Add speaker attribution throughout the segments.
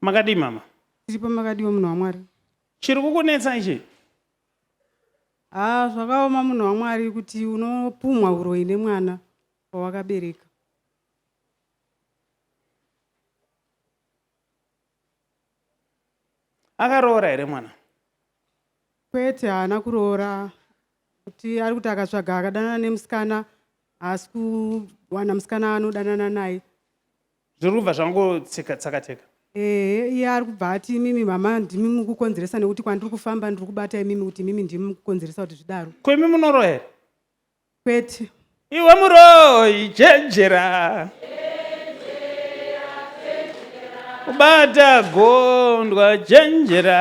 Speaker 1: Makadii mama? Tiripo makadiwo
Speaker 2: munhu waMwari. Chiri kukunetsa
Speaker 1: ichi? Haa
Speaker 2: zvakaoma munhu waMwari kuti unopumwa huroyi nemwana wawakabereka.
Speaker 1: Akaroora here mwana?
Speaker 2: Kwete haana kuroora kuti ari kuti akatsvaga akadanana nemusikana haasi kuwana musikana anodanana naye. zviri kubva
Speaker 1: zvangotseka tsakateka ehe iye
Speaker 2: ari kubva ati imimi mama ndimi mukukonzeresa nekuti kwandiri kufamba ndiri kubata imimi kuti imimi ndimi mukukonzeresa kuti zvidaro ko imi munoroya here
Speaker 1: kwete
Speaker 2: iwe
Speaker 1: muroyi chenjera kubata gondwa chenjera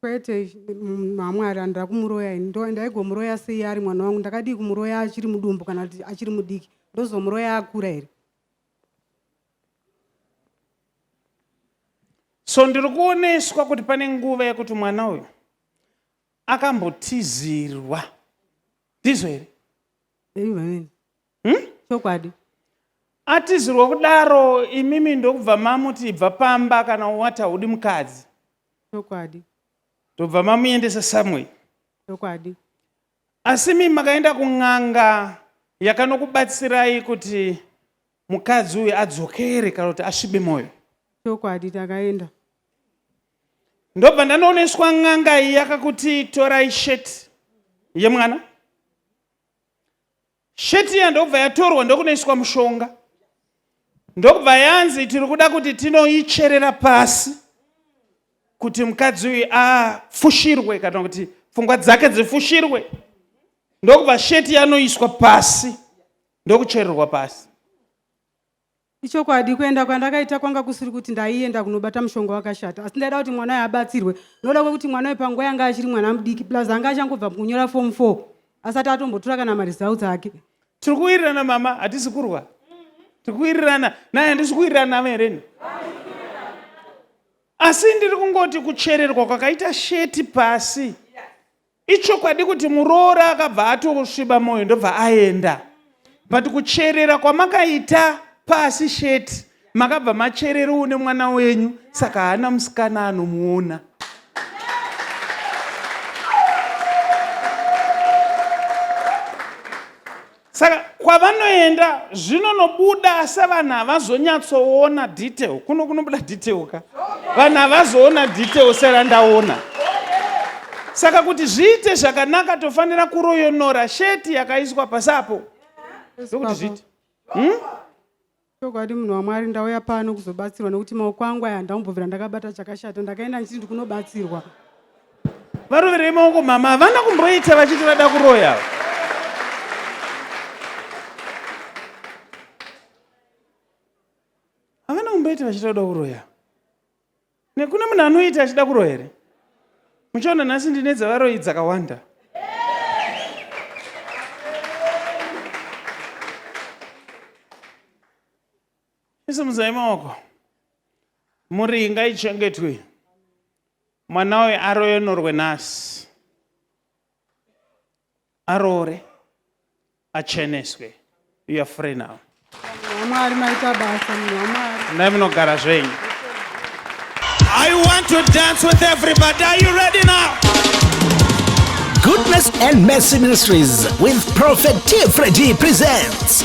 Speaker 2: kwete mm, hamwari handira kumuroya ini ndo ndaigomuroya sei ari mwana wangu ndakadii kumuroya achiri mudumbu kana kuti achiri mudiki ndozomuroya akura here
Speaker 1: so ndiri kuoneswa kuti pane nguva yekuti mwana uyu akambotizirwa ndizvo here
Speaker 2: hmm? chokwadi hmm?
Speaker 1: atizirwa kudaro imimi ndokubva mamuti ibva pamba kana wati haudi mukadzi chokwadi
Speaker 2: ndobva
Speaker 1: mamuendesa someway chokwadi
Speaker 2: asi
Speaker 1: mimi makaenda kun'anga yakanokubatsirai kuti mukadzi uyu adzokere kana kuti asvibe mwoyo chokwadi
Speaker 2: takaenda
Speaker 1: ndobva ndanooneswa n'anga iyi yakakuti torai sheti yemwana Shirt iya ndokubva yatorwa ndokunoiswa mushonga ndokubva yanzi tiri kuda kuti tinoicherera pasi kuti mukadzi uyu afushirwe kana kuti pfungwa dzake dzifushirwe ndokubva sheti yanoiswa pasi ndokuchererwa pasi Ichokwadi
Speaker 2: kuenda kwandakaita kwanga kusiri kuti ndaienda kunobata mushonga wakashata asi ndaida kuti mwana uyo abatsirwe noda kwekuti mwana uyo panguva yanga achiri mwana mudiki plus anga achangobva mukunyora form four asati atombotura kana maresults ake tiri kuwirirana
Speaker 1: mama hatisi kurwa tiri kuwirirana naye handisi kuwirirana navo hereni asi ndiri kungoti kuchererwa kwakaita sheti pasi Ichokwadi kuti muroora akabva atosviba moyo ndobva aenda but kucherera kwamakaita pasi sheti makabva macherera une mwana wenyu saka haana musikana anomuona Saka kwavanoenda zvinonobuda asi vanhu havazonyatsoona detail. Kuno kunobuda detail ka? Vanhu havazoona detail serandaona. Saka kuti zviite zvakanaka tofanira kuroyonora sheti yakaiswa pasapo. Ndokuti zviite. Hmm? Chokwadi
Speaker 2: munhu waMwari ndauya pano kuzobatsirwa nekuti maoko angu aya handambobvira ndakabata chakashata ndakaenda ndichiti ndikunobatsirwa.
Speaker 1: Varoverei maoko mama havana kumboita vachiti vada kuroya. Havana kumboita vachiti vada kuroya. nekune munhu anoita achida kuroya here muchaona nhasi ndine dzavaroyi dzakawanda isimudzai maoko muri ngaichengetwe mwana uyo aroyonorwe nhasi aroore acheneswe you are free now mwari
Speaker 2: maita basa munhu munogara zvenyu
Speaker 3: I want to dance with everybody. Are you ready now? Goodness
Speaker 4: and Mercy Ministries with Prophet Tfredi presents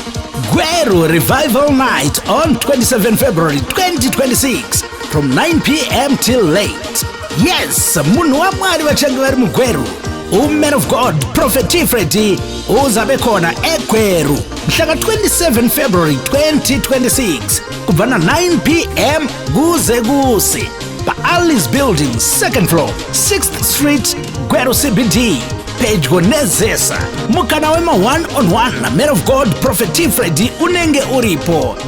Speaker 4: Gweru Revival Night on 27 February 2026 from 9 p.m. till late. yes munhu wamwari vachange vari mugweru uman of god prophet tifredi uzabe khona egweru mhla ka-27 february 2026 kubva na-9 p m kuze kuse pa-allis building second floor 6th street gweru cbd pedyo nezesa mukana wema-one on one man of god prophet tifredi unenge uripo